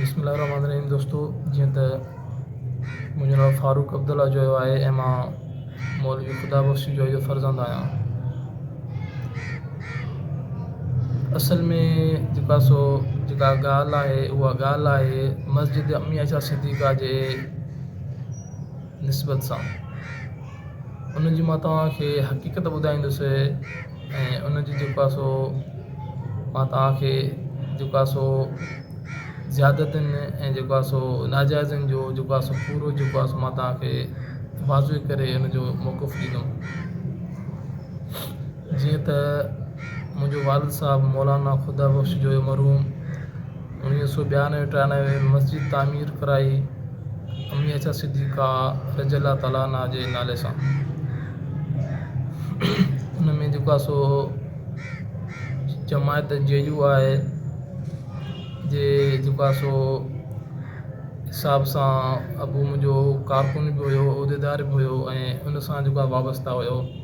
بسم الله الرحمٰن الرحيم دوستو جيئن ته منهنجو نالو فاروق عبدالله جويو آهي ۽ مان مولوي خدا بخش جويي جو فرزند آهيان اصل ۾ جيڪا سو جيڪا ڳالهه آهي اها ڳالهه آهي مسجد امي عائشه صديقه جي نسبت سان ان جي مان توهان کي حقيقت ٻڌائيندس ۽ ان جي جيڪو آهي سو مان توهان کي جيڪو آهي سو زيادتين ۽ جيڪو آهي سو ناجائزن جو جيڪو آهي سو پورو جيڪو آهي سو مان توهان کي واضح ڪري ان جو موقف ڏيندمि جيئن ته منهنجو والد صاحب مولانا خدا بخش جويو مرحوم اڻويهه سؤ ٻيانوي ٽيانوي ۾ مسجد تعمير ڪرائي امي عائشه صديقه رضي الله تعالٰي عنها جي نالي سان ان ۾ جيڪو آهي سو جماعت جي يو آهي جي جيڪو آهي سو حساب سان ابو منهنجو ڪارڪن به هيو عهديدار به هيو ۽ ان سان جيڪو آهي وابسته هيو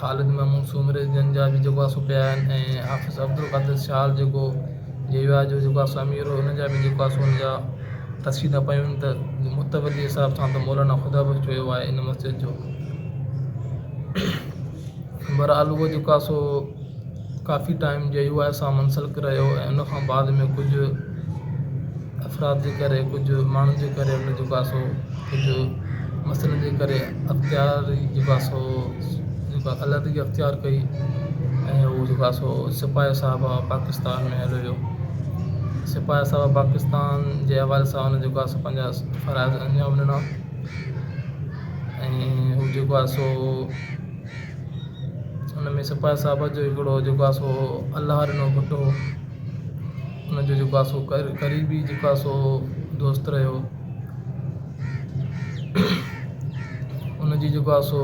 خالد محمود سومري جن جا به جيڪو آهي سو پيا آهن ۽ حافظ عبدالقادر شال جيڪو جي واء جو جيڪو آهي سو امير هو ان جا به جيڪو آهي سو ان جا قصيدا پيون آهن ته متولي جي حساب سان ته مولانا خدا بخش جو هيو آهي ان مسجد جو بهرحال اهو جيڪو آهي سو ڪافي ٽائيم جي يو آء سان منسلڪ رهيو ۽ ان کان بعد ۾ ڪجهه افراد جي ڪري ڪجهه ماڻهن جي ڪري ان جو ڪاسو ڪجهه مسئلن جي ڪري اختياري جو ڪاسو جيڪا علحدگي اختيار ڪئي ۽ هو جو ڪاسو سپاهي صاحب آف پاڪستان ۾ هليو ويو سپاهي صاحب آف پاڪستان جي حوالي سان ان جو ڪاسو پنهنجا فرائض انجام ڏنا ۽ هو جو ڪاسو ان ۾ سپاهي صاحب جو هڪڙو جيڪو آهي سو الله ڏنو پٽ هو ان جو جيڪو آهي سو قريبي جيڪو آهي سو دوست رهيو ان جي جيڪو آهي سو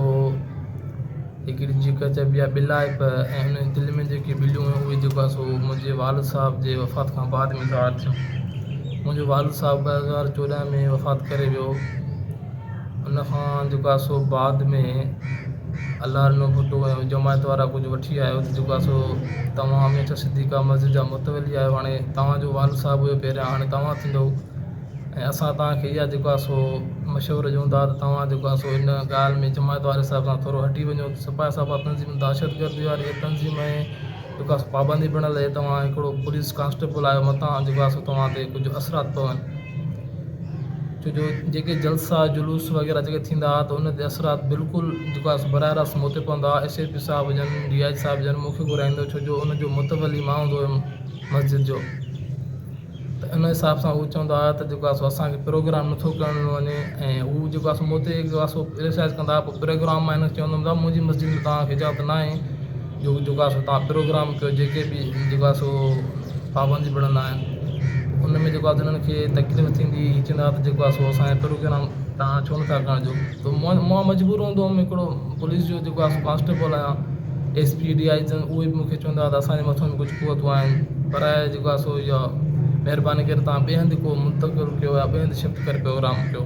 هڪڙي جيڪا چئبي آهي ٻلائپ ۽ ان دل ۾ جيڪي ٻليون هيون اهي جيڪو آهي سو منهنجي والد صاحب جي وفات کان بعد ظاهر ٿيون منهنجو والد صاحب ٻه هزار چوڏهن ۾ وفات ڪري ويو ان کان جيڪو آهي سو بعد ۾ الار نو ڀٽو ۽ جماعت وارا ڪجهه وٺي آيو ته جيڪو آهي سو توهان هميشه صديقه مسجد جا متولي آهيو هاڻي توهان جو والد صاحب هيو پهريان هاڻي توهان ٿيندو ۽ اسان توهان کي اها جيڪو آهي سو مشورو ڏيون ٿا ته توهان جيڪو آهي سو ان ڳالهه ۾ جماعت واري صاحب سان ٿورو هٽي وڃو سپاهي سالار تنظيم دهشت گردي واري تنظيم ۾ جيڪا سو پابندي پڻ لهي توهان هڪڙو پوليس ڪانسٽيبل آهيو متان جيڪا سو توهان تي ڪجهه اثرات پون ڇو جو جيڪي جلسا جلوس وغيره جيڪي ٿيندا ته ان تي اثرات بلڪل جيڪا سو براهه راست مون تي پوندا ايس ايس پي صاحب جن ڊي آئي جي صاحب جن مون کي گهرائيندو ڇو جو ان جو متولي مان هوندو هيم مسجد جو ته ان حساب سان هو چوندا هئا ته جيڪو آسو اسان کي پروگرام نه ٿو ڪرڻ ڏنو وڃي ۽ هو جيڪو آسو مون تي جيڪو آسو ڪرٽيسائز ڪندا هئا پروگرام مان هن کي چوندو هوم منهنجي مسجد ۾ توهان کي اجازت ناهي جو جيڪو آسو توهان پروگرام ڪيو جيڪي بي جيڪو آهي سو پابندي ڀڙندا آهن ان ۾ جيڪو آسو هنن کي تڪليف ٿيندي هي چوندا هئا ته جيڪو آسو اسان جو پروگرام توهان ڇو نٿا ڪرڻ ڏيو مان مجبور هوندو هوم هڪڙو پوليس جو جيڪو آهي ڪانسٽيبل آهيان ايس پي ڊي آئي جن اهي به مون کي چوندا هئا ته اسان جي مٿن ڪجهه قوتون آهن پر جيڪو آهي سو اها مهرباني ڪري تان ٻئي هنڌ ڪو منتقل ڪيو يا ٻئي هنڌ شفٽ ڪري پروگرام ڪيو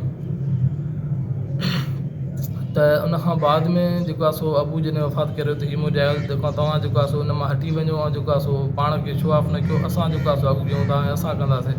ته ان کان بعد ۾ جيڪو آهي سو ابو جن وفات ڪريو ته هي مون جي تنهن کان جيڪو آهي سو ان مان هٽي وڃو جيڪو آهي سو پاڻ کي شو آف نه ڪيو اسان جيڪو آهي سو اڳ ڪيون ٿا اسان ڪنداسين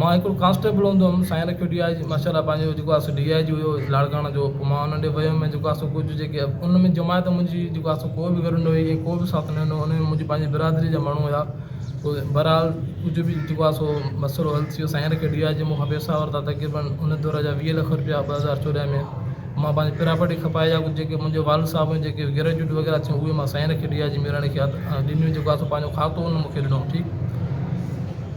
مان هڪڙو ڪانسٽيبل هوندو هيم سائين رکيو ڊي آء جي ماشاء الله پنهنجو جيڪو آسو ڊي آء جي هيو لاڙڪاڻه جو پوء مان انهن ڏي ويم ۽ جيڪو آسو ڪجهه جيڪي ان ۾ جماعت منهنجي جيڪو آسو ڪوبه گڏ نه هئي ڪو به ساٿ نه ڏنو ان ۾ منهنجي پنهنجي برادري جا ماڻهو هيا پوء بهرحال ڪجهه به جيڪو آسو مسئلو حل ٿيو سائين رکيو ڊي آء جي مونکان پيسا ورتا تقريبن ان دور جا ويهه لک رپيا ٻه هزار چوڏهن ۾ مان پنهنجي پراپرٽي کپائي يا ڪجهه جيڪي منهنجو والد صاحب هيو جيڪي گريجوئيٽ وغيره ٿيو اهي مان سائين رکيو ڊي آء جي ميراڻي کي ڏنيون جيڪو آسو پنهنجو کاتو ان مونکي ڏنو ٺيڪ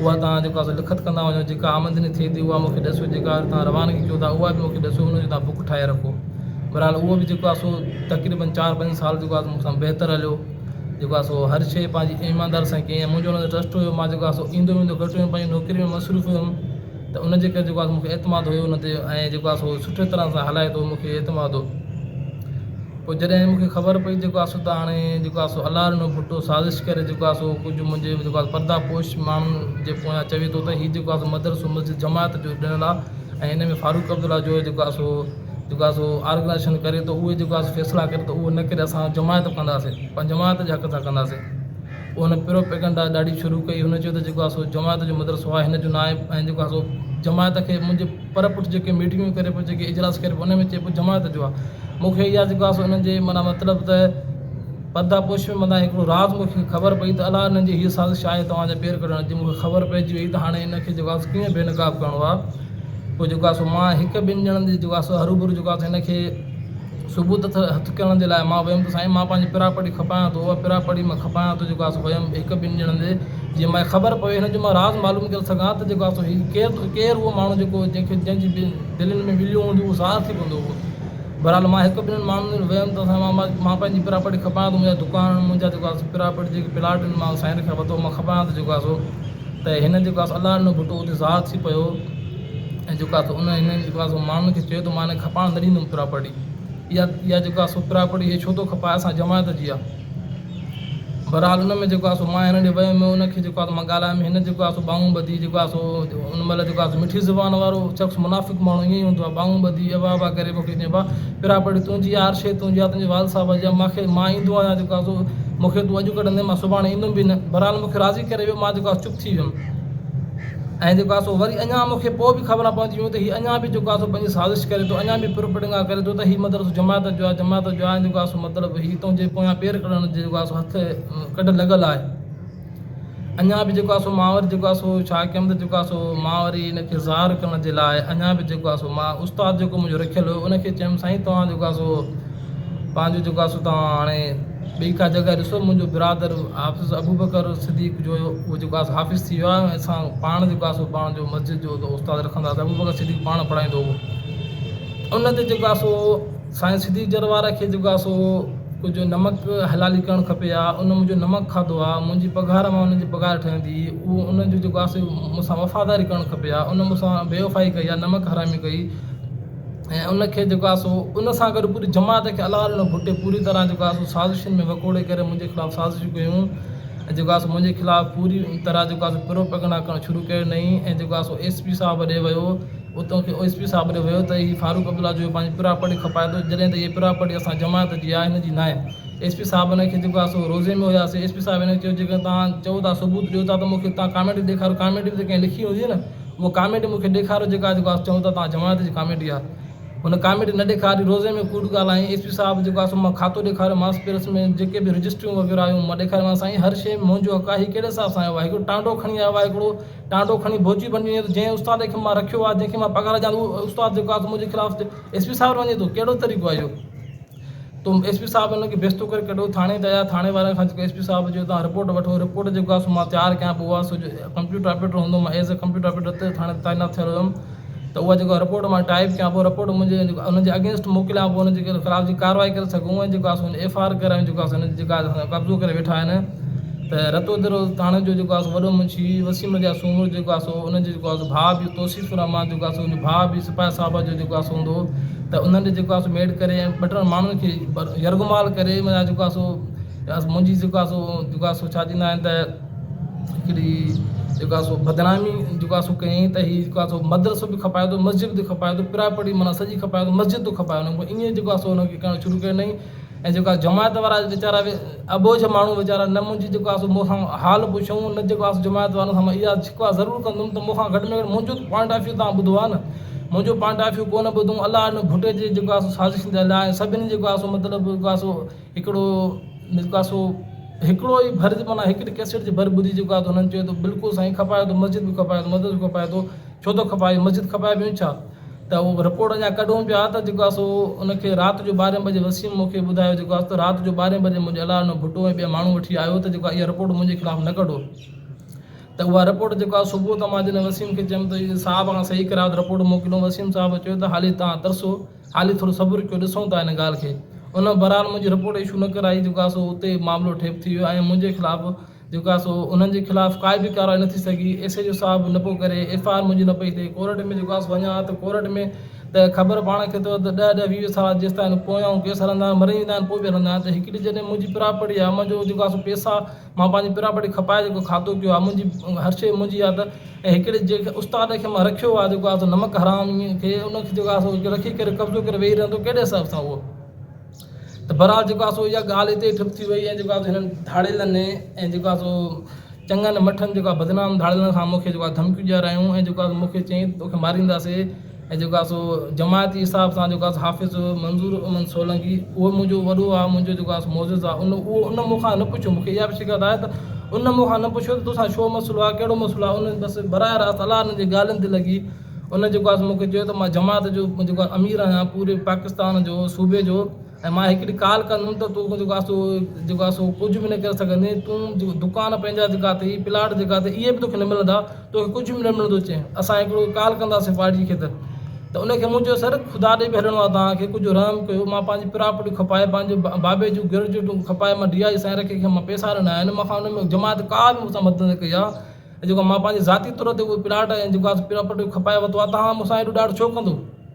اها توهان جيڪا به لکت ڪندا وڃو، جيڪا آمدني ٿئي ٿي، اها مون کي ڏسو، جيڪا توهان روانگي ڪيو ٿا، اها به مون کي ڏسو، ان جو توهان بڪ ٺاهي رکو. بهرحال اهو به جيڪو آهي سو تقريباً چار پنج سال جيڪو آهي سو مون سان بهتر هليو. جيڪو آهي سو هر شيء پنهنجي ايمانداري سان ڪيائين. منهنجو ان تي ٽرسٽ هيو. مان جيڪو آهي سو ايندو ويندو گهٽ هيم، پنهنجي نوڪري ۾ مصروف هيم. ته ان جي ڪري جيڪو آهي مون کي اعتماد هيو ان تي ۽ جيڪو آهي سو سٺي طرح سان هلائي ٿو مون کي اعتماد هو پوء جڏهن مون کي خبر پئي جيڪو آهي سو ته هاڻي جيڪو آهي سو الله رنو ڀٽو سازش ڪري جيڪو آهي سو ڪجهه منهنجي جيڪو آهي پردا پوش ماڻهن جي پويان چوي ٿو ته هي جيڪو آهي سو مدرسو مسجد جماعت جو ڏنل آهي ۽ ان ۾ فاروق عبدالله جو جيڪو آهي سو جيڪو آهي سو آرگنائيزيشن ڪري ٿو اهي جيڪو آهي سو فيصلا ڪري ٿو اهو نه ڪري اسان جماعت ڪنداسين پنهنجي جماعت جي حق سان ڪنداسين پوء هن پروپيگنڊا ڏاڍي شروع ڪئي. هن چيو ته جيڪو آ سو جماعت جو مدرسو آ، هن جو ناهي ۽ جيڪو آ سو جماعت کي منهنجي پر پٺ جيڪي ميٽنگون ڪري پيو، جيڪي اجلاس ڪري پيو، انهن ۾ چئي پيو جماعت جو آ. مون کي اها جيڪو آ سو انهن جي معنيٰ مطلب ته پرده پوشيء مندان هڪڙو راز مون کي خبر پئي ته الا انهن جي هيء سازش آهي توهان جا پير ڪڍڻ جي. مون کي خبر پئجي ويئي ته هاڻي هن کي جيڪو آ سو ڪيئن بي نقاب ڪرڻو آ. پوء جيڪو آ سو مان هڪ ٻن ڄڻن جي جيڪو آ سو هروڀرو جيڪو آ سو هن کي ثبوت اٿ هٿ ڪرڻ جي لاء مان ويم ته سائين مان پنهنجي پراپرٽي کپايان ٿو اها پراپرٽي مان کپايان ٿو جيڪو آسو ويم هڪ ٻن ڄڻن جي جيئن ماء خبر پوي هن جو مان راز معلوم ڪري سگهان ته جيڪو آسو هي ڪير ٿو ڪير اهو ماڻهو جيڪو جنهن کي جنهن جي دلين ۾ وليون هونديون اهو ظاهر ٿي پوندو هو بهرحال مان هڪ ٻنهن ماڻهن وٽ ويم ته سائين مان مان پنهنجي پراپرٽي کپايان ٿو منهنجا دڪان منهنجا جيڪو آسو پراپرٽي جيڪي پلاٽ آهن مان سائين کان ورتو هو مان کپايان ٿو جيڪو آسو ته هن جيڪو آسي الله ڏنو ڀٽو اتي زاهد ٿي پيو ۽ جيڪو آسي ان هن جيڪو آسي ماڻهن کي چيو ته مان هن کي کپائڻ نه ڏيندم پراپرٽي اها اها جيڪو آسي پراپرٽي هي ڇو ٿو کپائي اسان جماعت جي آهي بهرحال ان ۾ جيڪو آسي مان هن ڏي ويم ان کي جيڪو آسي مان ڳالهايم هن جيڪو آسي ٻانهون ٻڌي جيڪو آسي ان مهل جيڪو آسي مٺي زبان وارو شخص منافق ماڻهو ائين هوندو آهي ٻانهون ٻڌي ابا ابا ڪري مون کي چيائين ابا پھريان پڙھي تنھنجي يار شيء تنھنجي يا تنھنجي والد صاحب جي يا مانکي مان ايندو آھيان جيڪو آزو مونکي تون اڄ ڪڍندين مان سڀاڻي ايندم به نه بھرحال مونکي راضي ڪري ويو مان جيڪو آھي سو چپ ٿي ويم ۽ جيڪو آھي سو وري اڃان مونکي پوء به خبران پوندي ويون ته ھي اڃان به جيڪو آھي سو پنھنجي سازش ڪري ٿو اڃان به پروپيڊنگا ڪري ٿو ته ھي مدرسو جماعت جو آھي جماعت جو آھي ۽ جيڪو آھي سو مطلب ھي تنھنجي پويان پير ڪڍڻ جي جيڪو آھي سو ھٿ ڪڍ لڳل آھي اڃا به جيڪو آهي سو ماور جيڪو آهي سو ڇا ڪيم ته جيڪو آهي سو مان وري ان کي ظاهر ڪرڻ جي لاء اڃا به جيڪو آهي سو مان استاد جيڪو منهنجو رکيل هو ان کي چيم سائين توهان جيڪو آهي سو پنهنجو جيڪو آهي سو توهان هاڻي ٻي ڪا جڳهه ڏسو منهنجو برادر حافظ ابوبڪر صديق جو هيو هو جيڪو آهي حافظ ٿي ويو آهي اسان پاڻ جيڪو آهي سو پاڻ جو مسجد جو استاد رکنداسين ابوبڪر صديق پاڻ پڙهائيندو هو ان تي جيڪو آهي سو سائين سڌي جر وارا کي جيڪو آ سو ڪجهه نمڪ حلالي ڪرڻ کپي ها ان منهنجو نمڪ کاڌو آ منهنجي پگهار مان انهن جي پگهار ٺهندي اهو انهن جو جيڪو آ سو مون سان وفاداري ڪرڻ کپي ها ان مون سان بي وفائي ڪئي آ نمڪ حرامي ڪئي ۽ ان کي جيڪو آ سو ان سان گڏ پوري جماعت کي الله ڏنو ڀٽي پوري طرح جيڪو آ سو سازشن ۾ وڪوڙي ڪري منهنجي خلاف سازشون ڪيون ۽ جيڪو آ سو منهنجي خلاف پوري طرح جيڪو آ سو پروپيگنڊا ڪرڻ شروع ڪيو نئي ۽ جيڪو آ سو ايس پي صاحب ڏي ويو اتون کي او ايس پي صاحب ڏي ويو ته هي فاروق عبدالله جو پنهنجي پراپرٽي کپائي ٿو جڏهن ته هيء پراپرٽي اسان جماعت جي آهي هن جي ناهي ايس پي صاحب هن کي جيڪو آهي سو روزي ۾ هياسي ايس پي صاحب هن کي چيو جيڪڏهن توهان چئو ٿا ثبوت ڏيو ٿا ته مون کي تان ڪاميٽي ڏيکاريو ڪاميٽي به ته ڪنهن لکي هوندي نه اها ڪاميٽي مون کي ڏيکاريو جيڪا جيڪو آهي چئون ٿا توهان جماعت جي ڪاميٽي آهي هن ڪاميٽي نه ڏيکاري روزي ۾ ڪوڙ ڳالهائين ايس پي صاحب جيڪو آهي سو مان کاتو ڏيکاريو مانس پيرس ۾ جيڪي به رجسٽريون وغيره هيون مان ڏيکاريومانس سائين هر شيء ۾ منهنجو حق آهي هي ڪهڙي حساب سان آيو آهي هڪڙو ٽانڊو کڻي آيو آهي هڪڙو ٽانڊو کڻي ڀوڄي بني وڃي ٿو جنهن استاد کي مان رکيو آهي جنهن کي مان پگهار ڏيان ٿو اهو استاد جيڪو آهي سو منهنجي خلاف ايس پي صاحب وٽ وڃي ٿو ڪهڙو طريقو آهي اهو تو ايس پي صاحب ان کي بيستو ڪري ڪڍيو ٿاڻي ته آيا ٿاڻي وارن کان ايس پي صاحب جو تان رپورٽ وٺو رپورٽ جيڪو آهي سو مان تيار ڪيان پيو اهو آهي سو ڪمپيوٽر آپريٽر هوندو هو مان ايز اي ڪمپيوٽر آپريٽر ٿاڻي ۾ تعينات ٿيل هيم ته اها جيڪو رپورٽ مان ٽائيپ ڪيان پوء رپورٽ منهنجي جيڪو انهن جي اگينسٽ موڪليان پوء انهن جي خلاف جي ڪارروائي ڪري سگهون ۽ جيڪو آهي ايف آء آر ڪرايون جيڪو آهي سو جيڪا قبضو ڪري ويٺا آهن ته رتو درو ٿاڻي جو جيڪو آهي وڏو منشي وسيم رضا سومرو جيڪو آهي سو انهن جي جيڪو آهي ڀاء بي توصيف الرحمان جيڪو آهي سو انهن جو ڀاء بي سپاهي صاحب جو جيڪو آهي سو هوندو ته انهن جي جيڪو آهي سو ميڊ ڪري ۽ ٻه ٽن ماڻهن کي يرغمال ڪري منا جيڪو آهي سو منهنجي جيڪو آهي سو جيڪو آهي سو ڇا چئندا آهن ته هڪڙي جيڪو آهي سو بدنامي جيڪو آهي سو ڪيائين ته هي جيڪو آهي سو مدرسو به کپائي ٿو مسجد به کپائي ٿو پراء پڙي معنيٰ سڄي کپائي ٿو مسجد ٿو کپائي وڃي پوء ائين جيڪو آهي سو هنکي ڪرڻ شروع ڪيو نئين ۽ جيڪو آهي جماعت وارا ويچارا اٻوجهه ماڻهو ويچارا نه منهنجي جيڪو آهي سو مون کان حال پڇيو نه جيڪو آهي سو جماعت وارن کان اها شڪوه ضرور ڪندم ته مون کان گهٽ ۾ گهٽ منهنجو ته پوائنٽ آف ويو تان ٻڌو آهي نه منهنجو پوائنٽ آف ويو ڪو نه ٻڌو الاء ان ڀٽي جي جيڪو آهي سو سازشن جي الاء سڀني جيڪو آهي سو مطلب جيڪو آهي سو هڪڙو نڪاسو هڪڙو ئي ڀر جي معنيٰ هڪڙي ڪيسٽ جي ڀر ٻڌي چڪا ته هنن چيو ته بلڪل سائين کپايو ته مسجد به کپايو ته مدرسو به کپايو ته ڇو ٿو کپائي مسجد کپائي بيون ڇا ته هو رپورٽ اڃا ڪڍون پيا ته جيڪو آسو ان کي رات جو ٻارهين بجي وسيم مون کي ٻڌايو جيڪو آسو رات جو ٻارهين بجي منهنجي الاء نه ڀٽو ۽ ٻيا ماڻهو وٺي آيو ته جيڪو اها رپورٽ منهنجي خلاف نه ڪڍو ته اها رپورٽ جيڪو آسو صبح ته مان جڏهن وسيم کي چيم ته صاحب کان صحيح ڪرايو ته رپورٽ موڪليون وسيم صاحب چيو ته هالي تان ترسو هالي ٿورو صبر ڪيو ڏسون ٿا ان ڳالهه کي. ان بهرحال منهنجي رپورٽ اشو نه ڪرائي جيڪا سو اتي ئي معاملو ٺيپ ٿي ويو ۽ منهنجي خلاف جيڪا سو انهن جي خلاف ڪائي به ڪارروائي نه ٿي سگهي ايس ايڇ او صاحب نه پيو ڪري ايف آء آر منهنجي نه پئي ٿئي ڪورٽ ۾ جيڪا سو وڃان ها ته ڪورٽ ۾ ته خبر پاڻ کي اٿو ته ڏهه ڏهه ويهه ويهه سال جيستائين پويان ڪيس هلندا آهن مري ويندا آهن پوء به هلندا آهن ته هڪڙي جڏهن منهنجي پراپرٽي آهي منهنجو جيڪا سو پيسا مان پنهنجي پراپرٽي کپائي جيڪو کاڌو پيو آهي منهنجي هر شيء منهنجي آهي ته ۽ هڪڙي جيڪ استاد کي مان رکيو آهي جيڪو آهي سو نمڪ حرام کي ان کي جيڪو آهي سو رکي ڪري قبضو ڪري ويهي رهندو ڪهڙي حساب سان اهو ته برحال جيڪو آهي سو اها ڳالهه هتي ئي ٺپ ٿي وئي ۽ جيڪو آهي سو هنن ڌاڙيلن ۽ جيڪو آهي سو چڱن مٺن جيڪو آهي بدنام ڌاڙيلن کان مون کي جيڪو آهي ڌمڪيون ڏياريائون ۽ جيڪو آهي سو مون کي چيائين توکي مارينداسي ۽ جيڪو آهي سو جماعتي حساب سان جيڪو آهي سو حافظ منظور احمد سولنگي اهو منهنجو وڏو آهي منهنجو جيڪو آهي سو معزز آهي ان اهو ان مون کان نه پڇيو مونکي اها به شڪايت آهي ته ان مون کان نه پڇيو ته توسان ڇو مسئلو آهي ڪهڙو مسئلو آهي ان بس براهه راست الاء ان جي ڳالهين تي لڳي ان جيڪو آهي سو مونکي چيو ته مان جماعت جو جيڪو آهي امير آهيان پوري پاڪستان جو صوبي جو ۽ مان هڪڙي ڪال ڪندم ته تون جيڪو آهي سو جيڪو آهي سو ڪجهه به نه ڪري سگهندين تون جيڪو دڪان پنهنجا جيڪا اٿئي پلاٽ جيڪا اٿئي اهي به توکي نه ملندا توکي ڪجهه به نه ملندو چيائين اسان هڪڙو ڪال ڪنداسين پارٽي کي ته ته ان کي مون چيو سر خدا ڏي به هلڻو آهي توهان کي ڪجهه رحم ڪيو مان پنهنجي پراپرٽي کپائي پنهنجي بابي جون گريجوئيٽون کپائي مان ڊي آء جي سائين کي مان پئسا ڏنا آهن مون کان ان ۾ جماعت ڪا به مون سان مدد نه ڪئي آهي جيڪو مان پنهنجي ذاتي طور تي اهو پلاٽ ۽ جيڪو آهي سو پراپرٽي کپائي ورتو آهي توهان مون سان اهڙو ڏاڍ ڇو ڪندو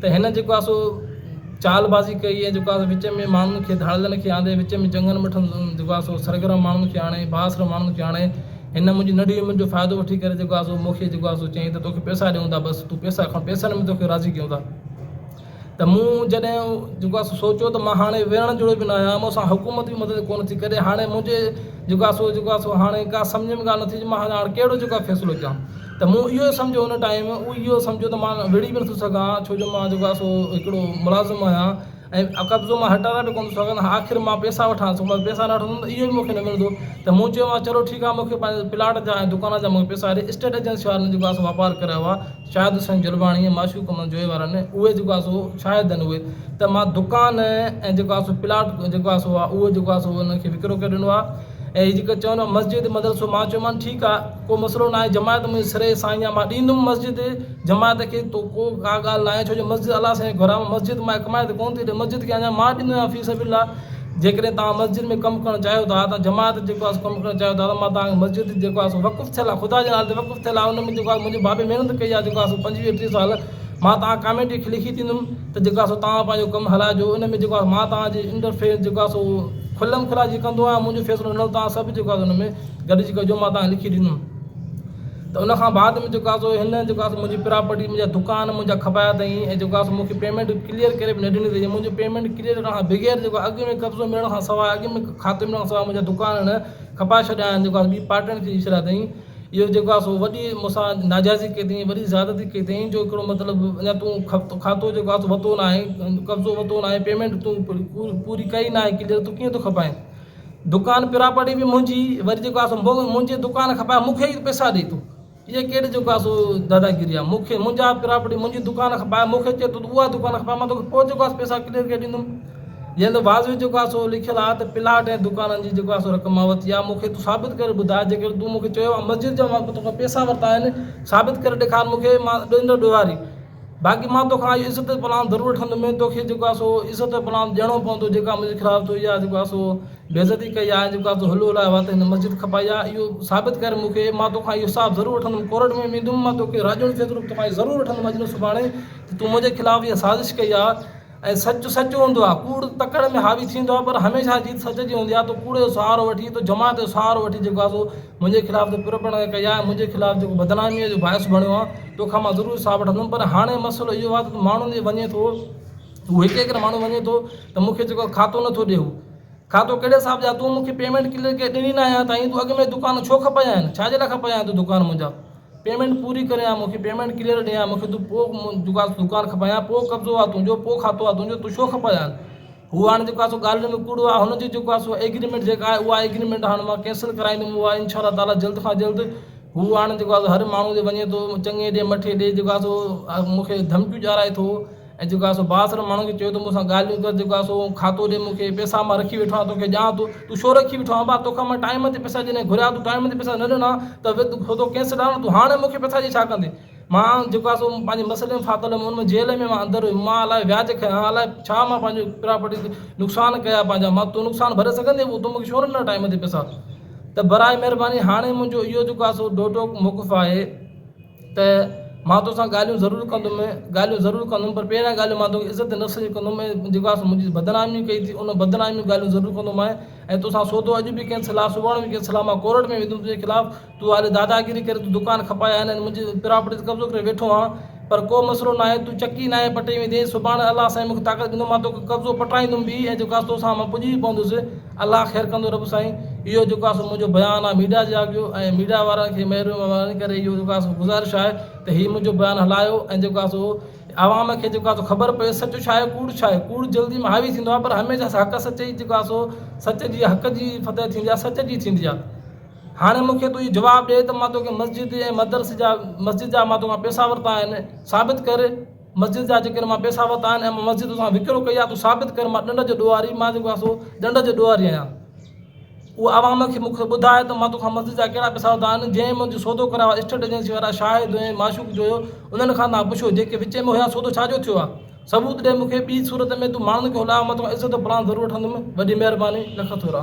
ته هن جيڪو آهي سو چال بازي ڪئي ۽ جيڪو آهي وچ ۾ ماڻهن کي ڌاڙيلن کي آندي وچ ۾ جنگن مٺن جيڪو آهي سو سرگرم ماڻهن کي آڻي بااثر ماڻهن کي آڻي هن منهنجي ننڍي عمر جو فائدو وٺي ڪري جيڪو آهي سو مون کي جيڪو آهي سو چيائين ته توکي پيسا ڏيون ٿا بس تون پيسا کڻ پيسن ۾ توکي راضي ڪيون ٿا ته مون جڏهن جيڪو آهي سو سوچيو ته مون هاڻي ويهڻ جوڳو به نه آهيان مون سان حڪومت به مدد ڪونه ٿي ڪري هاڻي منهنجي جيڪو آهي سو جيڪو آهي سو هاڻي ڪا سمجهه ۾ ڳالهه نه ٿي اچي مان هاڻي ڪهڙو جيڪو آهي فيصلو ڪيان ته مون اهو سمجهيو ان ٽائيم اهو سمجهيو ته مان وڙهي به نٿو سگهان ڇو جو مان جيڪو آهي سو هڪڙو ملازم آهيان ۽ قبضو مان هٽائڻ به ڪونه ٿو سگهان ته آخر مان پئسا وٺان ٿو مان پئسا نه وٺندم ته اهو به مون کي نه ملندو ته مون چيو مان چلو ٺيڪ آهي مون کي پنهنجي پلاٽ جا ۽ دڪان جا مون کي پئسا ڏي اسٽيٽ ايجنسي وارن جيڪو آهي سو واپار ڪرايو آهي شاهد حسين جلباڻي ۽ معشوق محمد جويي وارن اهي جيڪو آهي سو شاهد آهن اهي ته مان دڪان ۽ جيڪو آهي سو پلاٽ جيڪو آهي سو اهو جيڪو آهي سو ان کي وڪرو ڪري ڏنو آهي ۽ جيڪو چوندو مسجد مدرسو مان چيومانس ٺيڪ آهي ڪو مسئلو ناهي جماعت منهنجي سري سائين آ مان ڏيندم مسجد جماعت کي تو ڪو ڪا ڳالهه ناهي ڇو جو مسجد الله سائين جو گهر آ مسجد مان ڪمائي ته ڪونه ٿي ڏي مسجد کي اڃان مان ڏيندو آهيان في سبيل الله جيڪڏهن توهان مسجد ۾ ڪم ڪرڻ چاهيو ٿا توهان جماعت جيڪو آ سو ڪم ڪرڻ چاهيو ٿا ته مان توهان کي مسجد جيڪو آ سو وقف ٿيل آ خدا جي نالي تي وقف ٿيل آ ان ۾ جيڪو آ منهنجي بابي محنت ڪئي آ جيڪو آ سو پنجويهه ٽيهه سال مان توهان ڪاميٽي کي لکي ڏيندم ته جيڪو آ سو توهان پنهنجو ڪم هلائجو ان ۾ جيڪو آ مان توهان جي انٽرفيئر جيڪو آ سو کلم کلا جي ڪندو آهيان منهنجو فيصلو هوندو توهان سڀ جيڪو آ سو ان ۾ گڏجي ڪيو جو مان توهان کي لکي ڏنم ته ان کان بعد ۾ جيڪو آهي سو هن جيڪو آهي سو منهنجي پراپرٽي منهنجا دڪان منهنجا کپايا اٿئي ۽ جيڪو آهي سو مونکي پيمينٽ ڪليئر ڪري به نه ڏني اٿئي منهنجو پيمينٽ ڪليئر ڪرڻ کان بغير جيڪو اڳ ۾ قبضو ملڻ کان سواء اڳ ۾ کاتي ملڻ کان سواء منهنجا دڪان هن کپائي ڇڏيا آهن جيڪو آهي ٻي پارٽي کي ڏئي ڇڏيا اٿئي اهو جيڪو آهي سو وڏي مون سان ناجائزي ڪئي اٿئي وڏي زيادتي ڪئي اٿئي جو هڪڙو مطلب اڃا تون کاتو جيڪو آهي سو ورتو ناهي قبضو ورتو ناهي پيمينٽ تون پوري ڪئي ناهي ڪليئر تون ڪيئن ٿو کپائين دڪان پراپرٽي به منهنجي وري جيڪو آسو منهنجي دڪان کپائي مون کي ئي پئسا ڏي تو اهي ڪهڙي جيڪو آسو داداگيري آ مون کي منهنجا پراپرٽي منهنجي دڪان کپائي مون کي چي تو اها دڪان کپائي مان توکي پوء جيڪو آسو پئسا ڪليئر ڪري ڏيندم جنهن تي واضوي جيڪو آسو لکيل آ ته پلاٽ ۽ دڪانن جي جيڪو آسو رقم مان ورتي آ مون کي تو ثابت ڪري ٻڌاء جيڪڏهن تون مون کي چيو آ مسجد جا مان توکان پئسا ورتا آهن ثابت ڪري ڏيکار مون کي مان ڏيندو ڏوهاري باقي مان توکان اهو عزت پلان ضرور وٺندم ۽ توکي جيڪو آهي سو عزت پلان ڏيڻو پوندو جيڪا منهنجي خلاف تو اها جيڪو آهي سو بي عزتي ڪئي آهي ۽ جيڪو آهي سو هلو هلائي وات هن مسجد کپائي آهي اهو ثابت ڪر مون کي مان توکان اهو حساب ضرور وٺندم ڪورٽ ۾ ويندم مان توکي راڄوڻ فيصلو به توکان اهو ضرور وٺندم اڄ نه سڀاڻي ته تون منهنجي خلاف اها سازش ڪئي آهي ۽ سچ سچ هوندو آهي. ڪوڙ تڪڙ ۾ حاوي ٿيندو آهي پر هميشه جيت سچ جي هوندي آهي. تو ڪوڙ جو سهارو وٺي تو جماعت جو سهارو وٺي جيڪو آهي سو منهنجي خلاف تو پرپڻ ڪئي آهي ۽ منهنجي خلاف جيڪو بدناميء جو باعث بڻيو آهين توکان مان ضرور حساب وٺندم پر هاڻي مسئلو اهو آهي ته ماڻهو جي وڃي ٿو اهو هڪ هڪڙو ماڻهو وڃي ٿو ته مون کي جيڪو کاتو نٿو ڏي اهو کاتو ڪهڙي حساب جا تون مون کي پيمينٽ ڪليئر ڪري ڏني ناهي اڃا تائين تون اڳ ۾ دڪان ڇو کپايائين ڇا جي لاء کپايائين تون دڪان منهنجا. پيمينٽ پوري ڪري يا مون کي پيمينٽ ڪليئر ڏي يا مون کي تون پوء دڪان کپائي يا پوء قبضو آ تنهنجو پوء کاتو آ تنهنجو تون ڇو کپائي هان هو هاڻ جيڪو آ سو ڳالهين ۾ ڪوڙو آ هن جي جيڪو آ سو ايگريمينٽ جيڪا آهي اها ايگريمينٽ هاڻ مان ڪينسل ڪرائيندم اها انشاء الله تعاليٰ جلد کان جلد هو هاڻ جيڪو آ سو هر ماڻهو جي وڃي ٿو چڱي ڏي مٺي ڏي جيڪو آ سو مون کي ڌمڪيون ڏيارائي ٿو ۽ جيڪو آهي سو بااثر ماڻهن کي چيو ته مون سان ڳالهيون ڪر، جيڪو آهي سو کاتو ڏي مون کي، پئسا مان رکي ويٺو آهيان، تو کي ڏيان ٿو، تون ڇو رکي ويٺو آهين ڀاء، تو کان مان ٽائيم تي پئسا جڏهن گهريا، تون ٽائيم تي پئسا نه ڏنا ته وت کاتو ڪينسل آهي نه، تون هاڻي مون کي پئسا ڏئي ڇا ڪندين، مان جيڪو آهي سو پنهنجي مسئلي ۾ ڦاٿل هيم، ان ۾ جيل ۾ مان اندر هيم، مان الاء وياج کنيا ها، الاء ڇا مان پنهنجي پراپرٽي تي نقصان ڪيا پنهنجا، مان تون نقصان ڀري سگهندين پوء تون مون کي ڇو نه ڏنا ٽائيم تي پئسا، ته براء مهرباني هاڻي منهنجو اهو جيڪو آهي سو ڊوٽوڪ موقف آهي. ته مان توسان ڳالهيون ضرور ڪندم ڳالهيون ضرور ڪندم پر پهريان ڳالهه مان توکي عزت نفس جي ڪندم ۽ جيڪو آس منهنجي بدناميون ڪئي ٿي ان بدناميون جون ڳالهيون ضرور ڪندومانء ۽ توسان سودو اڄ به ڪين صلاح سڀاڻي به ڪين صلاح مان ڪورٽ ۾ ويندم تنهنجي خلاف تون هالي داداگيري ڪري تون دڪان کپايا آهن ۽ منهنجي پراپرٽي تي قبضو ڪري ويٺو آهن پر ڪو مسئلو ناهي تون چڪي ناهي پٽي ويندين سڀاڻي الله سائين مونکي طاقت ڏنو مان توکي قبضو پٽرائيندم به ۽ جيڪو آس توسان مان پڄي به پوندس الله خير ڪندو رب سائين اهو جيڪو آ سو منهنجو بيان آ ميڊيا جي آگيو ۽ ميڊيا وارن کي مهرباني ڪري اهو جيڪو آ سو گذارش آهي ته هي منهنجو بيان هلايو ۽ جيڪو آ سو عوام کي جيڪو آ سو خبر پئي سچ ڇا آهي ڪوڙ ڇا آهي ڪوڙ جلدي ۾ حاوي ٿيندو آ پر هميشه حق سچ ئي جيڪو آ سو سچ جي حق جي فتح ٿيندي آ سچ جي ٿيندي آ هاڻي مون کي تون اهو جواب ڏي ته مان توکي مسجد ۽ مدرسي جا مسجد جا مان توکان پئسا ورتا آهن ثابت ڪر مسجد جا جيڪڏهن مان پيسا ورتا آهن ۽ مان مسجد توسان وڪرو ڪئي آهي تون ثابت ڪر مان ڏنڊ جو ڏوهاري مان جيڪو آهيان سو ڏنڊ جو ڏوهاري آهيان اهو عوام کي مون کي ٻڌاء ته مان توکان مسجد جا ڪهڙا پيسا ورتا آهن جنهن منهنجو سودو ڪرايو آهي اسٽيٽ ايجنسي وارا شاهد هيون معشوق جو هيو انهن کان توهان پڇو جيڪي وچ ۾ هيا سودو ڇا جو ٿيو آهي ثبوت ڏي مون کي ٻي صورت ۾ تون ماڻهن کي هلاء مان توکان عزت پراڻ ضرور وٺندم وڏي مهرباني لک ٿورا.